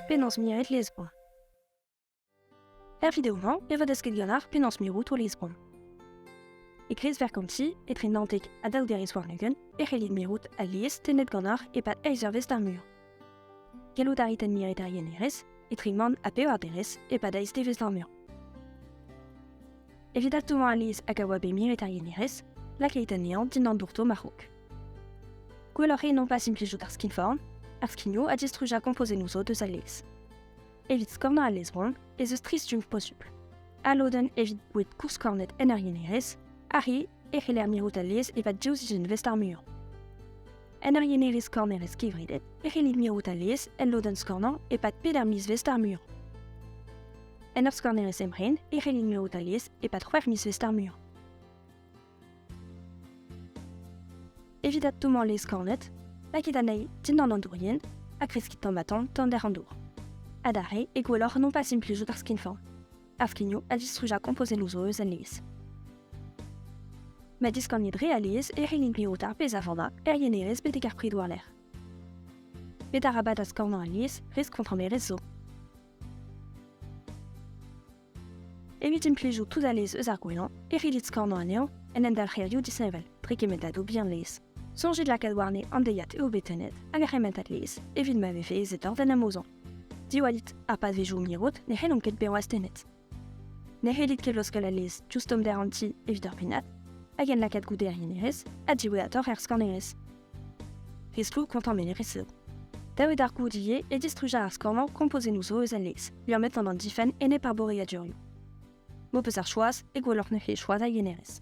Penaos miret Lisbon Er video-mañ e vo desket ganeoc'h penaos mirout o Lisbon. E kreiz verkomti, etre Nantek ha daouderez warn-ugent, e c'hellit mirout al lies tennet ganeoc'h e-pad eizh eurvezh d'ar mur. Gellout a rit admiret ar yenerez, etrimant ha pevarderez e-pad aizdevezh ar meur. Evit adtommañ alies hag a oa bet miret ar yenerez, lakait anezhañ dindan bourto marc'hok. Gwelloc'h eo nompas implijout ar skinform, ar skigno ha distrujañ kompozennoù zo deus al lez. Evit skornañ al lezvron ez eus tri stumm posupl. Al lodenn evit boued koursskornet en ur yenerez, ar re e c'heller mirout alies evat div sizhunvezh ar muiañ. En ur yenerez kornerez kevredet e c'hellit mirout alies el lodenn skornañ e-pad peder mizvezh ar muiañ. En ur skornerez emren e c'hellit mirout alies e-pad c'hwec'h mizvezh ar muiañ. Evit adtommañ lez kornet, lakit anezhi dindan an dourien ha kreskit tamm-ha-tamm tonder an dour. Adarre e gwelloc'h non pas implijout ar skinform. Ar skignoù a distrujañ kompozennoù zo eus a-nevez. Ma diskanit re alies e c'hellint mirout ar pezh a vanda er yenerez betek ar pridoù war-lerc'h. Met arabat askornañ alies resk kontrollerezh zo. Evit implijout tout alez eus ar gwellañ e c'hellit skornañ anezhañ en endalc'herioù disheñvel dre kementadoù bihan laezh. Soñjit lakaat warne an deiziad eo bet tennet hag ar c'hementad laezh evit ma vefe ezed oc'h d'en amozañ. Diwallit, ha pa vezomp mirout, ne c'hellomp ket bezañ astennet. Ne c'hellit ket loskal alez diouzh tommder an ti evit ur pennad, hag en lakaat goude er yenerez ha diwezhatoc'h er skannerez. Riskloù kontañ menerez eo. Davet ar goud ivez e distrujañ ar skornañ kompozennoù zo eus al lez, liammet gant an difenn enep ar boreadurioù. M'ho peus ar choaz e gwelloc'h neuze choaz ar yenerez.